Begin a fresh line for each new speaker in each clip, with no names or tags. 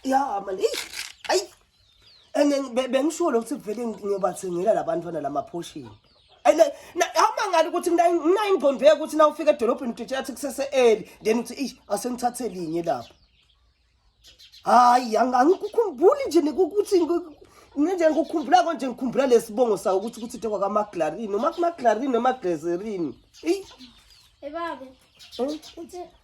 ya mani eyi ayi and then be- bengisho lokhu ukuthi vele ngiyobathengela labantwana lamaphoshini and then, na- awumangala ukuthi ngina- nginayo ingqondo yokuthi na ufika edolobheni utshela athi kusese-eli then uthi ish asengithathe linye lapho hayi ang- angikukhumbuli nje nik- ukuthi ngi- ngenje ngikukhumbula konje ngikhumbula lesibongo sawo ukuthi ukuthi tekwa kamaglarini noma kumaglarini noma glazerini eyi
Hey, Bobby. eh? It's a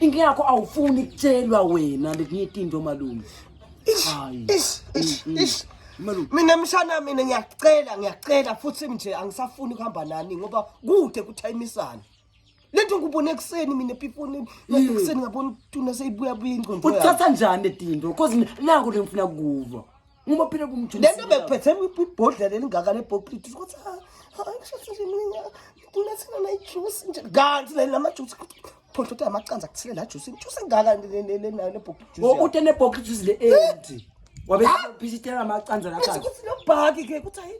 Inkinga yakho awufuni kutshelwa wena lekunyita into malume. Hayi. Ish, ish, Mm, mm. ish.
Malume. Mina mshana mina ngiyacela ngiyacela futhi nje angisafuni kuhamba nani ngoba kude kuthayimisana. Lento ngubone ekseni mina piponi lento Mm. ekseni ngabona tuna seyibuya buya ingqondo. yami. Uthatha njani letindo?
Cause naku lengifuna kukuva. Uma phela kumjumisa. Lento bekuphethe
ibhodlela elingaka lebhokliti ukuthi ha ha ngisho nje mina ngifuna sina na juice nje. Kanti le lama juice phondo uthi amacanza kuthile la juice. Juice engaka le nayo lebhokliti. Oh uthi ne bhokliti
le endi. Wabe phishitela amacanza la kanti. Ukuthi lo bhaki ke
ukuthi hayi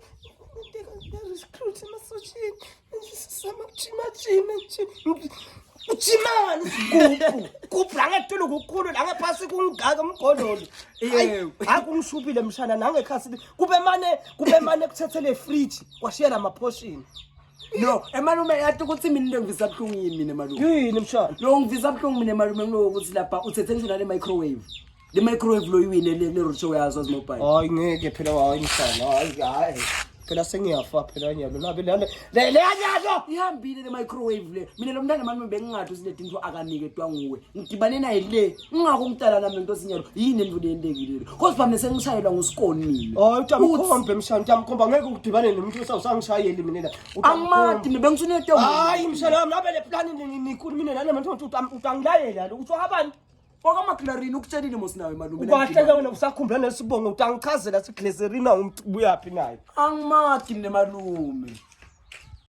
recruit emasosheni. Sisama jima jima nje. uchimani sigubhu gubhu la ngetulu kukhulu la ngephasi kungaka umgololo Yebo. hayi kungishubile mshana nangekhasi kube mane kube mane kuthethe le fridge kwashiya la maphoshini no
emalume yathi ukuthi mina into ngivisa buhlungu yini mina malume yini mshana lo
ngivisa buhlungu mina
malume kulokuthi lapha uthethe nje nale microwave le microwave lo iwine le le roadshow yazo as mobile hayi ngeke phela
hayi msana hayi hayi phela sengiyafa phela nyalo labe lale le le nyalo ihambile le
microwave le mina lo mntana mami bengingathi usinede into akanike twa nguwe ngidibane naye le ngingakho ngitala nami lento sinyalo yini endvune yentekile le cause bami sengishayelwa ngusikoni mina hayi utamkhombe
mshana utamkhomba ngeke udibane nomuntu osawusangishayeli mina la angimati mina
bengisunete hayi mshana wami
labe le plan ni- ni- nikhulu mina nana manje uthi utam- utangilayela lo uthi wabantu kwakamaklarini
ukutshelile mos nawe malume ubahleke wena usakhumbula
nesibongo ukuthi angichazela sigleserina umntu ubuyaphi naye angimadi
mne
malume